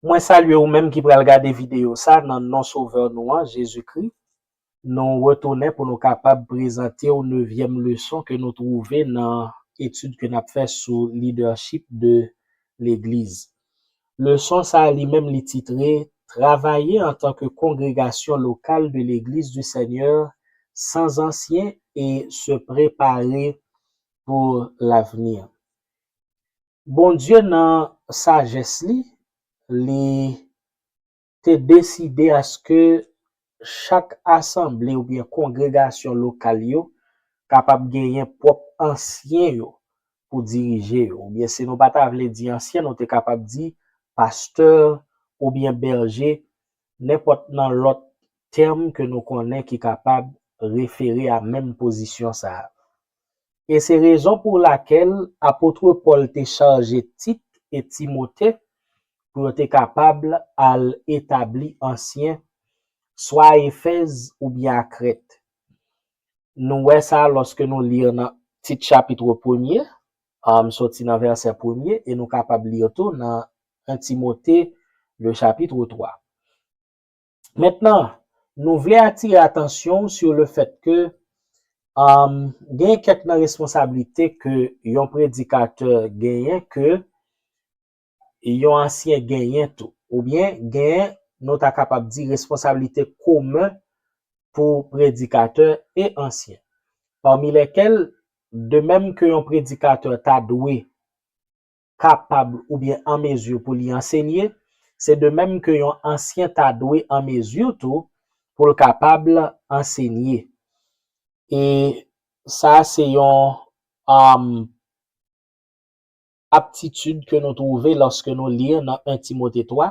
Mwen salye ou menm ki pral gade videyo sa nan non Sovè nou an, Jezi Kri. Nou retounen pou nou kapab prezante ou nevyèm leson ke nou twouve nan etid ke n ap fè sou lidèchip de legliz. Leson sa a li menm li titre, Travaye antanke kongregasyon lokal de Legliz di Senyè san zansyen e se prepare pou lavni. Bondye nan sajès li, li. te deside aske chak asanble oubyen kongregasyon lokal yo kapab genyen pwòp ansyen yo pou dirije yo, oubyen si nou pa ta vle di ansyen nou te kapab di pastè oubyen bèje, nenpòt nan lòt tèm ke nou konnen ki kapab refere a menm pozisyon sa a. e se rezon pou lakèl apotre Pòl te chaje Tit e Timote pou yo te kapab al etabli ansyen, swa a Efèz oubyen a Krèt. Nou wè sa lòske nou li nan Tit chapitre premye, soti nan vèsè premye, e nou kapab li tou nan 1 Timote le chapitre 3. Mentnan, nou vle atire atansyon w sou le fèt ke genyen kèk nan responsablite ke yon predikatè genyen ke yon ansyen genyen tou. Oubyen genyen nou ta kapab di responsablite komen pou predikatè e ansyen. Pami lèkèl, de menm ke yon predikatè ta dwe. kapab oubyen an mezi pou li ansenye, se de menm ke yon ansyen ta dwe an mezi tou pou l kapab ansenye. E sa se yon aptitid ke nou twouve lòske nou li nan 1 Timote 3,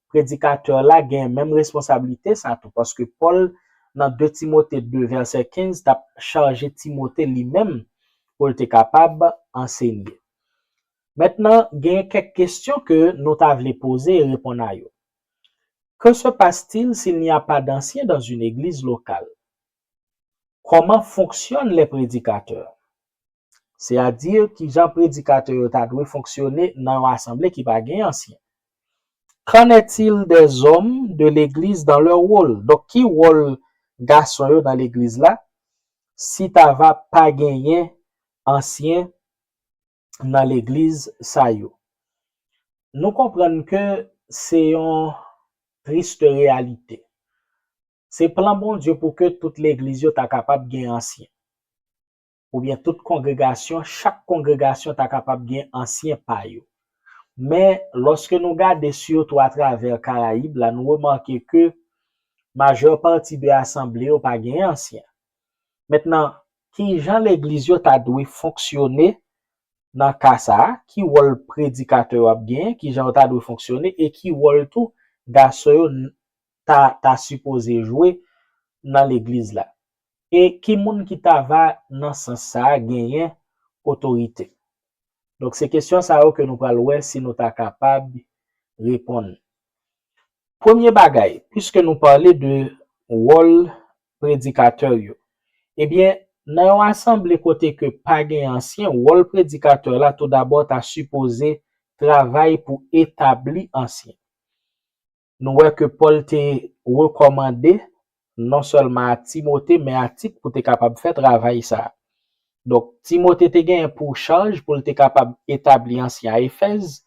predikatè la gen menm responsablite sa tou, paske Pòl nan 2 Timote 2 vèsè 15 t ap chaje Timote li menm pou l te kapab ansenye. Mentnan gen kèk kesyon ke nou ta vle poze e reponn a yo, Que se passe-t-il s'il n'y a pas d'anciens dans une église locale? Kòman fonksyonn lè predikatè? Se a di kijan predikatè yo ta dwe fonksyone nan yon asanble ki pa gen ansyen? Qu'en est-il des hommes de l'église dans leur rôle? Donk ki wòl gason yo nan legliz la si ta va pa genyen ansyen nan legliz sa yo. Nou konprann ke se yon triste reyalite. Se plan Bondye pou ke tout legliz yo ta kapab gen ansyen. Oubyen tout kongregasyon, chak kongregasyon ta kapab gen ansyen pa yo. Men, lòske nou gade sitou atravè Karayib la, nou remake ke majè pati de asanble yo pa gen ansyen. Mentnan, ki jan legliz yo ta dwe fonksyone nan ka sa a? Ki wòl predikatè yo ap genyen? Ki jan yo ta dwe fonksyone? E ki wòl tou gason yo ta ta sipoze jwe nan legliz la? E ki moun ki ta va, nan sans sa a, genyen otorite? Donk, se kesyon sa yo ke nou pral wè si nou ta kapab reponn. Premye bagay, piske nou pale de wòl predikatè yo. Ebyen, nan yon asanble kote ke pa gen ansyen, wòl predikatè la toudabò ta sipoze travay pou etabli ansyen. Nou wè ke Pòl te rekòmande non sèlman a Timote men a Tit pou te kapab fè travay sa a. Donk, Timote te genyen pou chaj pou l te kapab etabli ansyen a Efèz,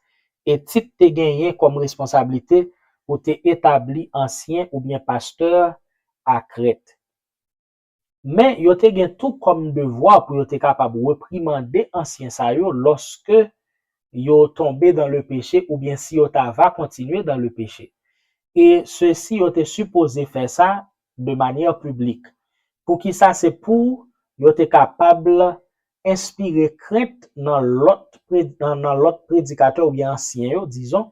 e Tit te genyen kòm responsablite pou te etabli ansyen oubyen pastè a Krèt. Men, yo te gen tou kòm devwa pou yo te kapab reprimande ansyen sa yo lòske yo tonbe dan le peche oubyen si yo ta va kontinye dan le peche. E sesi yo te sipoze fè sa de manière publique. Poukisa se pou yo te kapab enspire krent nan lòt nan lòt predikatè oubyen ansyen yo dizon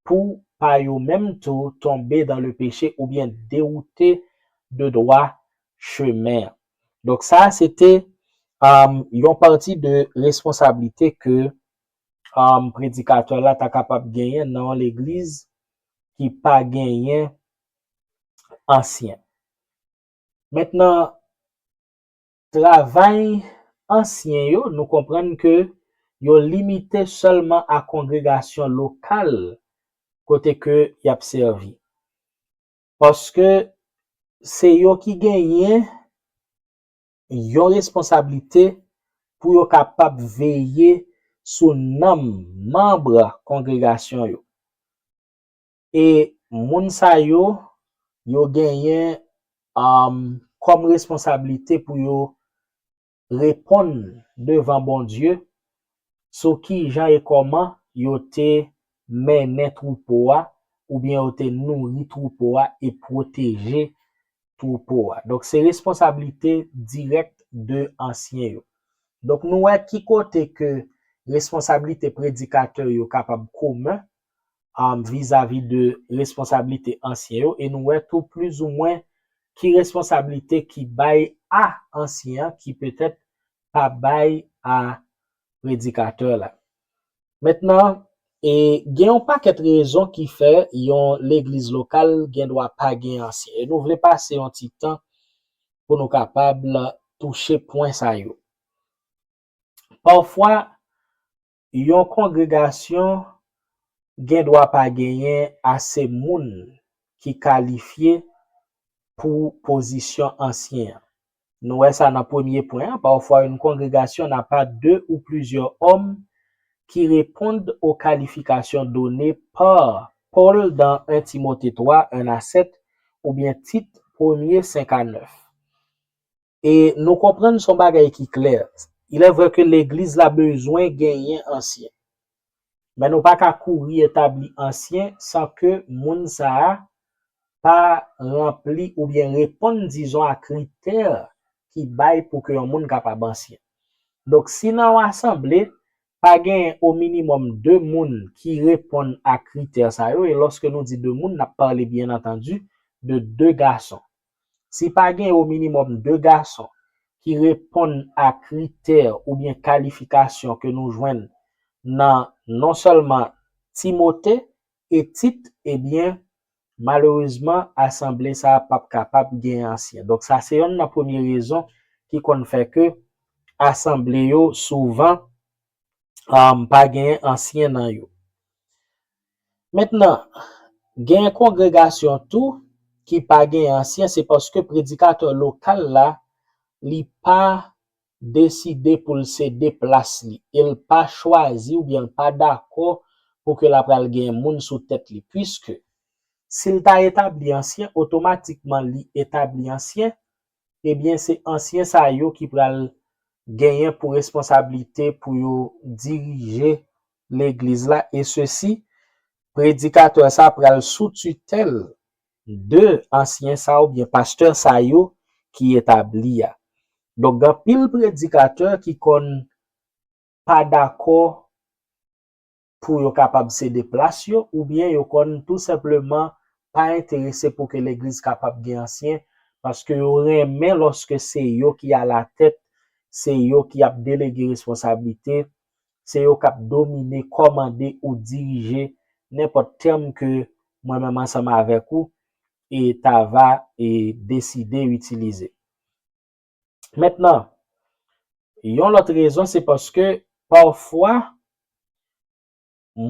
pou pa yo menm tou tonbe dan le peche oubyen dewoute de dwa chemen an. Donk sa a se te yon pati de responsablite ke predikatè la ta kapab genyen nan yon legliz ki pa genyen ansyen. Mentnan, travay ansyen yo, nou konprann ke yo limite sèlman a kongregasyon lokal kote ke y ap sèvi. Paske se yo ki genyen yon responsablite pou yo kapab veye sou nanm manb kongregasyon yo. E moun sa yo, yo genyen kòm responsablite pou yo reponn devan Bondye sou ki jan e kòman yo te mennen twoupo a oubyen yo te nouri twoupo a e pwoteje twoupo a. Donk, se responsablite dirèk de ansyen yo. Donk, nou wè ki kote ke responsablite predikatè yo kapab komen vizavi de responsablite ansyen yo e nou wè tou plizoumwen ki responsablite ki bay a ansyen an ki petèt pa bay a predikatè la. Mentnan, e gen yon pakèt rezon ki fè yon legliz lokal gen dwa pa gen ansyen e nou vle pase yon ti tan pou nou kapab touche pwen sa yo. Pafwa, Yon kongregasyon gendwa pa genyen ase moun ki kalifye pou pozisyon ansyen an. Nou wè sa nan premye pwen an, pafwa yon kongregasyon na pa de ou plizyè òm ki reponn o kalifikasyon done pa Pòl dan 1 Timote 3, 1 a 7, oubyen Tit, premye, 5 a 9. E nou konprann son bagay ki klè, ilèvrè ke legliz la bezwen genyen ansyen. Men nou pa ka kouri etabli ansyen san ke moun sa a pa ranpli oubyen reponn dizon a kritè ki bay pou ke yon moun kapab ansyen. Donk si nan yon asanble, pa genyen o minimòm 2 moun ki reponn a kritè sa yo, e lòske nou di 2 moun, n ap pale byen antandi de 2 gason. Si pa gen o minimòm 2 gason ki reponn a kritè oubyen kalifikasyon ke nou jwenn nan non sèlman Timote e Tit ebyen malerezman asanble sa a pap kapab gen ansyen. Donk sa se yonn nan premye rezon ki konn fè ke asanble yo souvan pa gen ansyen nan yo. Mentnan, gen kongregasyon tou ki pa gen ansyen se paske predikatè lokal la li pa deside pou l sede plas li e l pa chwazi oubyen l pa dakò pou ke l apral gen moun sou tèt li puiske si l ta etabli ansyen otomatikman li etabli ansyen ebyen se ansyen sa yo ki pral genyen pou responsablite pou yo dirije legliz la e sesi predikatè sa pral sou titèl de ansyen sa ou byen pastè sa yo ki etabli a. Donk gen anpil predikatè ki konn pa dakò pou yo kapab sede plas yo ou byen yo konn tou senpleman pa enterese pou ke legliz kapab gen ansyen paske yo renmen loske se yo ki a la tèt se yo ki ap delege responsablite Se yo k ap domine, kòmande ou dirije nenpòt tèm ke mwen menm ansanm avèk ou e ta va e deside itilize. Mentnan, yon lòt rezon se paske pafwa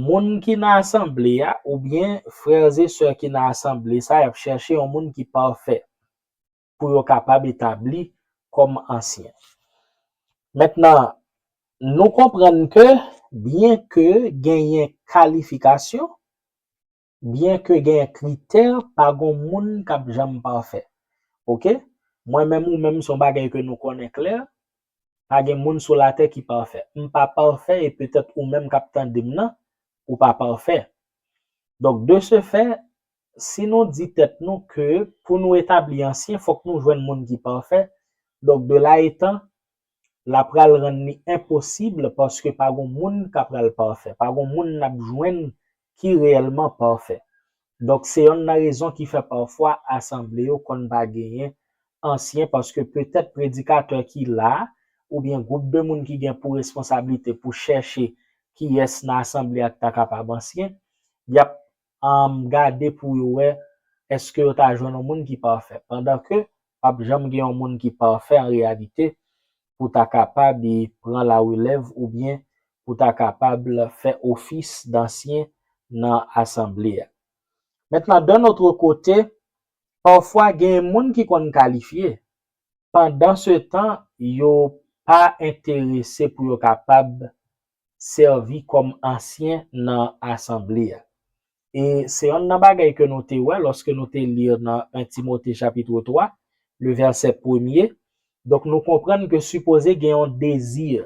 moun ki nan asanble a oubyen frères et sœurs ki nan asanble sa y ap chèche yon moun ki pafè. pou yo kapab etabli kòm ansyen. Mentnan, nou konprann ke byen ke genyen kalifikasyon, byen ke genyen kritè, pa gon moun k ap janm pafè. Ok? Mwen menm, ou menm, se yon bagay ke nou konnen klè, pa gen moun sou latè ki pafè. M pa pafè e petèt ou menm k ap tande m nan, ou pa pafè. Donk, de se fè, si nou di tèt nou ke pou nou etabli ansyen fòk nou jwenn moun ki pafè, donk de la etan, la pral rann li enposib paske pa gon moun ka pral pafè, pa gon moun n ap jwenn ki reyèlman pafè. Donk se yonn nan rezon ki fè pafwa asanble yo konn pa genyen ansyen paske petèt predikatè ki la a oubyen gwoup de moun ki gen pou responsablite pou chèche kiyès nan asanble a k ta kapab ansyen, y ap Humm gade pou yo wè eske yo ta jwenn yon moun ki pafè pandan ke pap janm gen yon moun ki pafè an reyalite pou ta kapab pran la relèv oubyen pou ta kapab fè ofis dansyen nan asanble a. Mentnan dan notre kote pafwa gen moun ki konn kalifye pandan se tan yo pa enterese pou yo kapab sèvi kòm ansyen nan asanble a. E se yonn nan bagay ke nou te wè lòske nou te li nan 1 Timote chapitre 3, le verset premye, donk nou konprann ke sipoze gen yon dezi.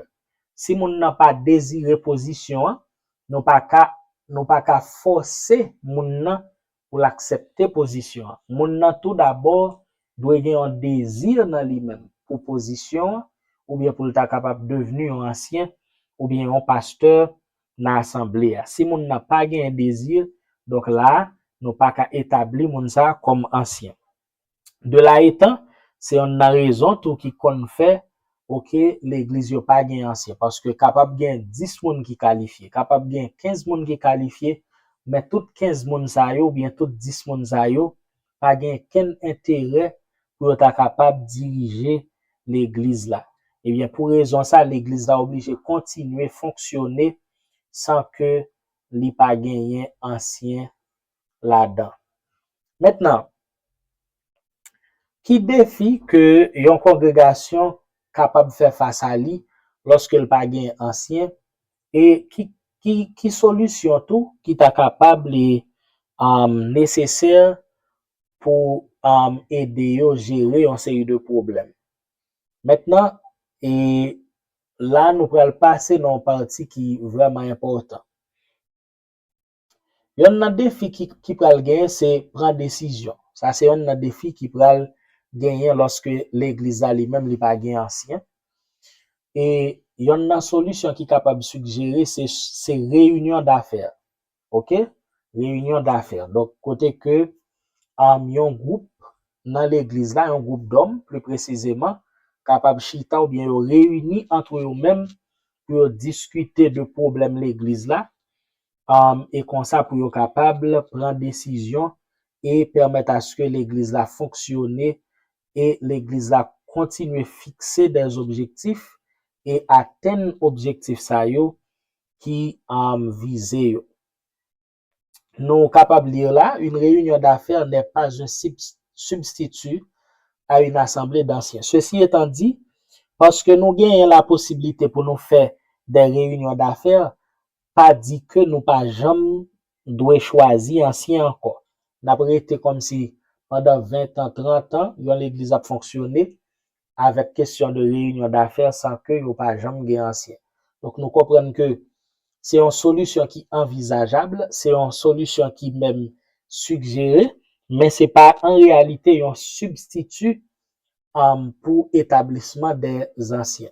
Si moun nan pa dezire pozisyon an, nou pa ka nou pa ka fòse moun nan pou l aksepte pozisyon an. Moun nan tou dabò dwe gen yon dezi nan li menm pou pozisyon an oubyen pou l ta kapab devni yon ansyen oubyen yon pastè nan asanble a. Si moun nan pa genyen dezi, donk la a, nou pa ka etabli moun sa a kòm ansyen. De la etan, se yonn nan rezon tou ki konn fè ok legliz yo pa gen ansyen paske kapab gen 10 moun ki kalifye, kapab gen 15 moun ki kalifye men tout 15 moun sa yo oubyen tout 10 moun sa yo pa gen kenn enterè pou yo ta kapab dirije legliz la. Ebyen pou rezon sa legliz la oblije kontinye fonksyone san ke li pa genyen ansyen ladan. Mentnan, ki defi ke yon kongregasyon kapab fè fas a li lòske l pa gen ansyen, e ki solisyon tou ki ta kapab li nesesè pou ede yo jere yon seri de pwoblèm? Mentnan, e la nou pral pase nan yon pati ki vrèman enpòtan. Yonn nan defi ki ki pral genyen se pran desizyon. Sa se yonn nan defi ki pral genyen lòske legliz la li menm li pa gen ansyen. E yonn nan solisyon ki kapab sigjere se se reyinyon dafè. Ok, reyinyon dafè. Donk kote ke anm yon gwoup nan legliz la, yon gwoup dòm pli presizeman kapab chita oubyen yo reyini antre yo menm pou yo diskite de pwoblèm legliz la e konsa pou yo kapab pran desizyon e pèmèt aske legliz la fonksyone e legliz la kontinye fikse dè objektif e atenn objektif sa yo ki vize yo. Nou kapab lire la, Une réunion d'affaires n'est pas un substitut à une assemblée d'anciens. Ceci étant dit, paske nou genyen laposiblite pou nou fè dè reyinyon dafè, pa di ke nou pa janm dwe chwazi ansyen ankò. N ap rete kòmsi pandan ventan, trantan, yon legliz ap fonksyone avèk kesyon de reyinyon dafè san ke yo pa janm gen ansyen. Donk nou konprann ke se yon solisyon ki anvizajab, se yon solisyon ki menm sigjere, men se pa an reyalite yon sibstiti pou etablisman de zansyen.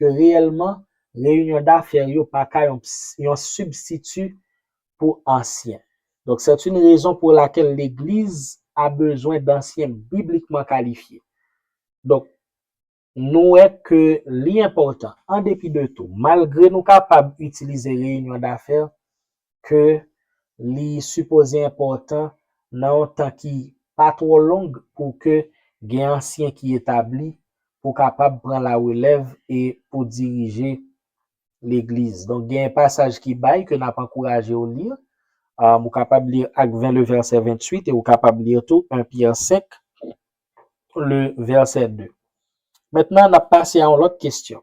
ke reyèlman reyinyon dafè yo pa ka yon sibstiti pou ansyen. Donk, sèt yn rezon pou lakèl legliz a bezwen dansyen biblikman kalifye. Donk, nou wè ke li enpòtan, an depi de tou, malgre nou kapab itilize reyinyon dafè ke li sipoze enpòtan nan yon tan ki pa twò long pou ke gen ansyen ki etabli pou kapab pran la relèv e pou dirije legliz. Donk gen yon pasaj ki bay ke nap ankouraje ou li, ou kapab li Acte 20 le verset 28 e ou kapab li tou 1 Pierre 5 le verset 2. Mentnan nap pase a yon lòt kesyon.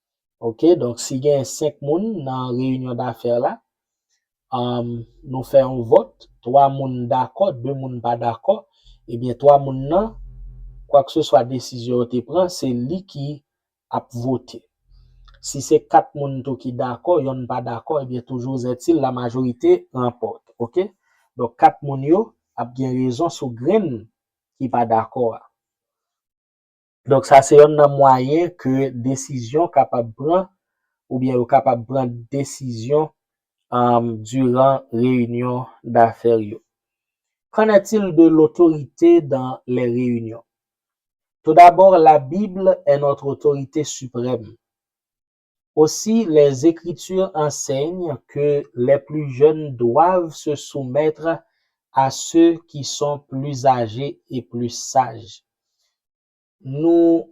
Ok donk si gen 5 moun nan reyinyon dafè la, nou fè yon vòt, 3 moun dakò, 2 moun pa dakò, ebyen 3 moun nan, kwakseswa desizyon yo te pran, se li ki ap vote. Si se 4 moun tou ki dakò, yonn pa dakò, ebyen toujou zètil la majorite ranpòte. Ok. Donk 4 moun yo ap gen rezon sou grenn ki pa dakò a. Donk sa se yonn nan mwayen ke desizyon kapab pran oubyen yo kapab pran desizyon diran reyinyon dafè yo. Qu'en est-il de l'autorité dans les réunions? Tout d'abord, la Bible est notre autorité suprême. Aussi, les Écritures enseignent que les plus jeunes doivent se soumettre à ceux qui sont plus âgés et plus sages. Nou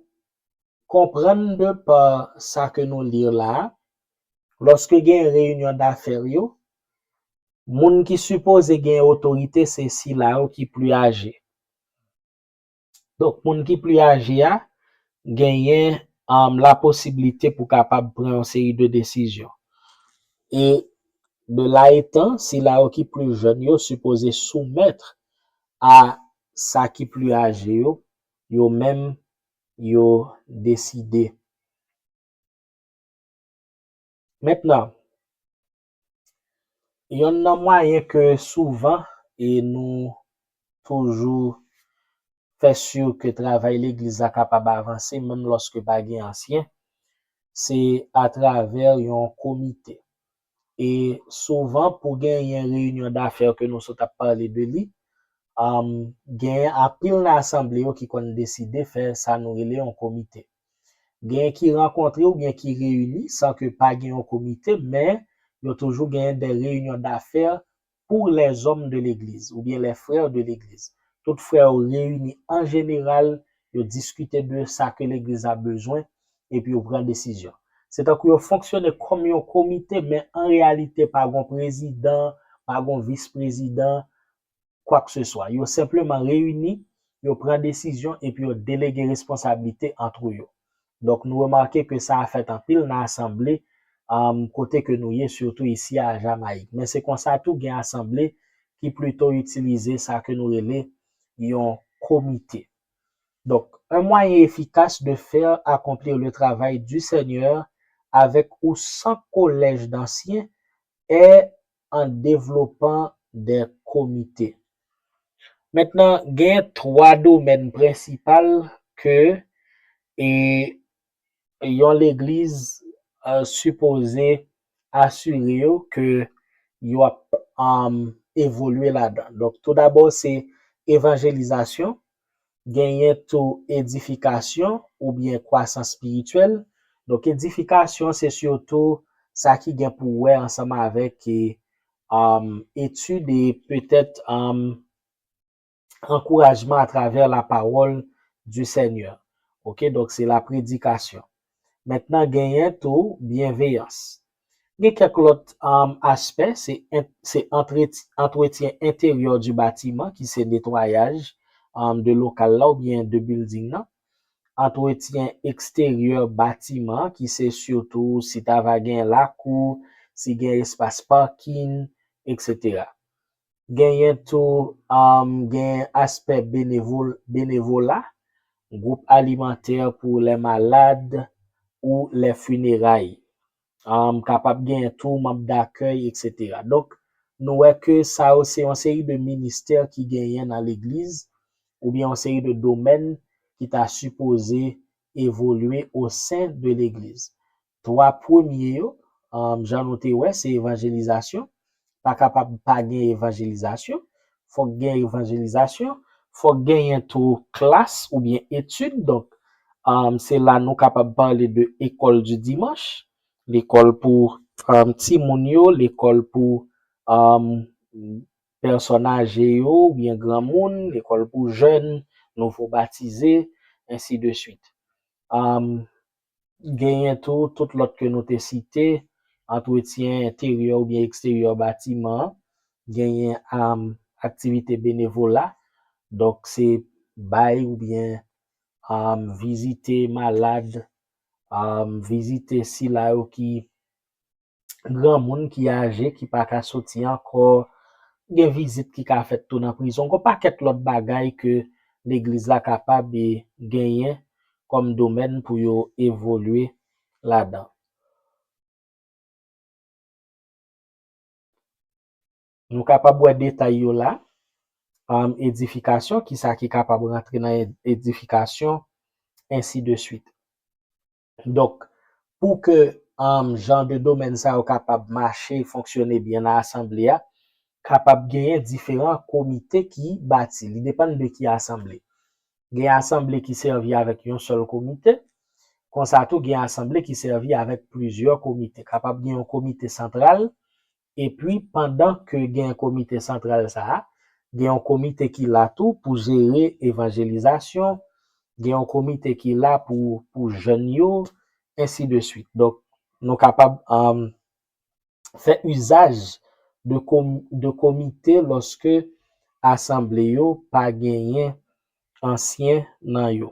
konprann de par sa ke nou lire la a, loske gen reyinyon dafè yo, moun ki sipoze gen otorite se sila yo ki pli aje. Donk moun ki pli aje a genyen la posibilite pou kapab pran yon seri de desizyon. E de la etan, sila yo ki pli jèn yo sipoze soumèt a sa ki pli aje yo, yo menm yo deside. Mentnan, Yonn nan mwayen ke souvan e nou toujou fè si ke travay legliz la kapab avanse menm lòske pa gen ansyen, se atravè yon komite. E souvan pou genyen reyinyon dafè ke nou sot ap pale de li, genyen anpil nan asanble yo ki konn deside fè sa nou rele yon komite. Genyen ki rankontre oubyen ki reyini san ke pa gen yon komite men yo toujou genyen des réunions d'affaires pour les hommes de l'église oubyen les frères de l'église. Tout frè yo reyini an jeneral, yo diskite de sa ke legliz la bezwen epi yo pran desizyon. Se tankou yo fonksyone kòm yon komite men an reyalite pa gon prezidan, pa gon vis prezidan, kwakseswa. Yo senpleman reyini, yo pran desizyon epi yo delege responsablite antre yo. Donk nou remake ke sa a fèt anpil nan asanble kote ke nou ye, sitou isi a Jamayik. Men se konsa tou gen asanble ki plito itilize sa ke nou rele yon komite. Donk, un moyen efficace de faire accomplir le travail du Seigneur avec ou sans collège d'anciens est an devlopan de komite. Mentnan gen 3 domèn prensipal ke e yon legliz sipoze asire yo ke yo ap evolye ladan. Donk tou dabò se evanjelizasyon, Genyen tou edifikasyon oubyen kwasans spirityèl. Donk edifikasyon se sitou sa ki gen pou wè ansanm avèk etid e petèt ankourajman atravè la pawòl di Senyè. Ok donk se la predikasyon. Mentnan genyen tou byenveyans. Gen kèk lòt aspè, se antretyen enteryè di batiman ki se netwayaj de lokal la oubyen de bilding nan, antretyen eksteryè batiman an ki se sitou si ta va gen lakou, si gen espas pakin, eksetera. Genyen tou gen aspè benevola, gwoup alimantè pou lè malad ou lè fineray. Kapab genyen tou manb dakèy eksetera. Donk nou wè ke sa yo se yon seri de ministè ki genyen nan legliz oubyen yon seri de domèn ki ta sipoze evolye osen de legliz. 3 premye yo, jan nou te wè, se evanjelizasyon. Pa kapab pa gen evanjelizasyon. Fòk gen evanjelizasyon. Fòk genyen tou klas oubyen etid. Donk, se la nou kapab pale de Ecole du Dimanche. Lekòl pou timoun yo, lekòl pou pèsòn aje yo oubyen granmoun, lekòl pou jèn, nouvo batize, ensi de swit. Genyen tou tout lòt ke nou te site, antretyen enteryè oubyen eksteryè batiman an, genyen aktivite benevola, donk se bay oubyen vizite malad, vizite sila yo ki granmoun ki aje ki pa ka soti ankò, gen vizit ki ka fèt tou nan prizon, gon pakèt lòt bagay ke legliz la kapab e genyen kòm domèn pou yo evolye ladan. Nou kapab wè detay yo la, edifikasyon, kisa ki kapab rantre nan edifikasyon, ensi de swit. Donk, pou ke jan de domèn sa yo kapab mache, fonksyone byen nan asanble a, kapab genyen diferan komite ki bati. Li depann de ki asanble. Gen asanble ki sèvi avèk yon sèl komite, konsa tou gen asanble ki sèvi avèk plizyè komite. Kapab gen yon komite santral Epi pandan ke gen komite santral sa a, gen yon komite ki la tou pou jere evanjelizasyon, gen yon komite ki la pou pou jèn yo, ensi de swit. Donk, nou kapab fè izaj de komite lòske asanble yo pa genyen ansyen nan yo.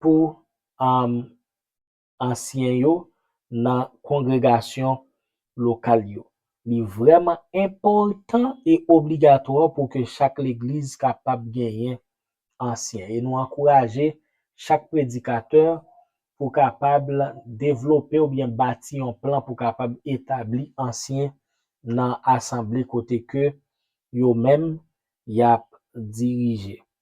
pou ansyen yo nan kongregasyon lokal yo. Li vrèman enpòtan e obligatwa pou ke chak legliz kapab genyen ansyen. E nou ankouraje chak predikatè pou kapab devlope oubyen bati yon plan pou kapab etabli ansyen nan asanble kote ke yo menm y ap dirije.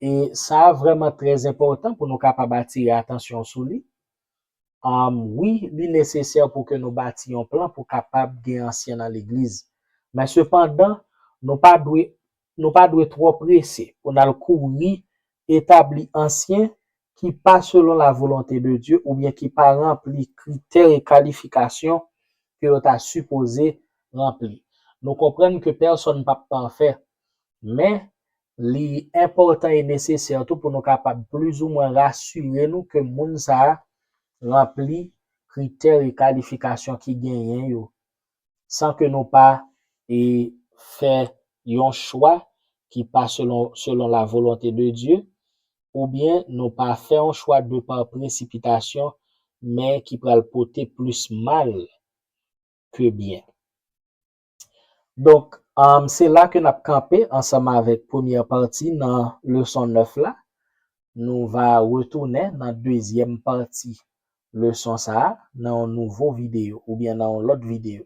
E sa vrèman trè enpòtan pou nou kapab atire atansyon sou li. Wi, li nesesè pou ke nou bati yon plan pou kapab gen ansyen nan legliz. Men sepandan, nou pa dwe nou pa dwe twò prese pou n al kouri etabli ansyen ki pa selon lavolonte de Dye oubyen ki pa ranpli kritè e kalifikasyon ke yo ta sipoze ranpli. Nou konprann ke pèsonn p ap pafè, men, Li enpòtan e nesesè tou pou nou kapab plizoumwen rasire nou ke moun sa a ranpli kritè e kalifikasyon ki genyen yo, san ke nou pa e fè yon chwa ki pa selon selon la volonte de Dye, oubyen nou pa fè yon chwa de pa presipitasyon, men ki pral pote plis mal ke byen. Donk, se la ke n ap kanpe ansanm avèk premyè pati nan leson 9 la. Nou va retounen nan dezyèm pati leson sa a nan yon nouvo videyo oubyen nan yon lòt videyo.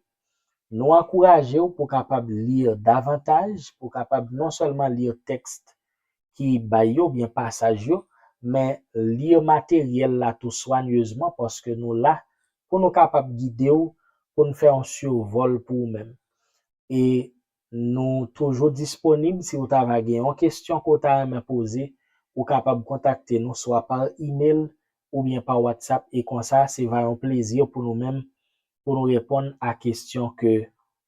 Nou ankouraje w pou w kapab li davantaj, pou w kapab non sèlman li tèks ki bay yo oubyen pasaj yo, men lire materyèl la tou swanyezman paske nou la pou nou kapab gide w pou n fè yon survol pou ou menm. E nou toujou disponib si ou ta va gen yon kestyon ke w ta renmen poze, ou kapab kontakte nou swa pa email oubyen pa WhatsApp e konsa se va yon plezi pou nou menm pou nou reponn a kestyon ke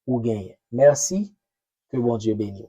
ou genyen. Mèsi ke Bondye beniw.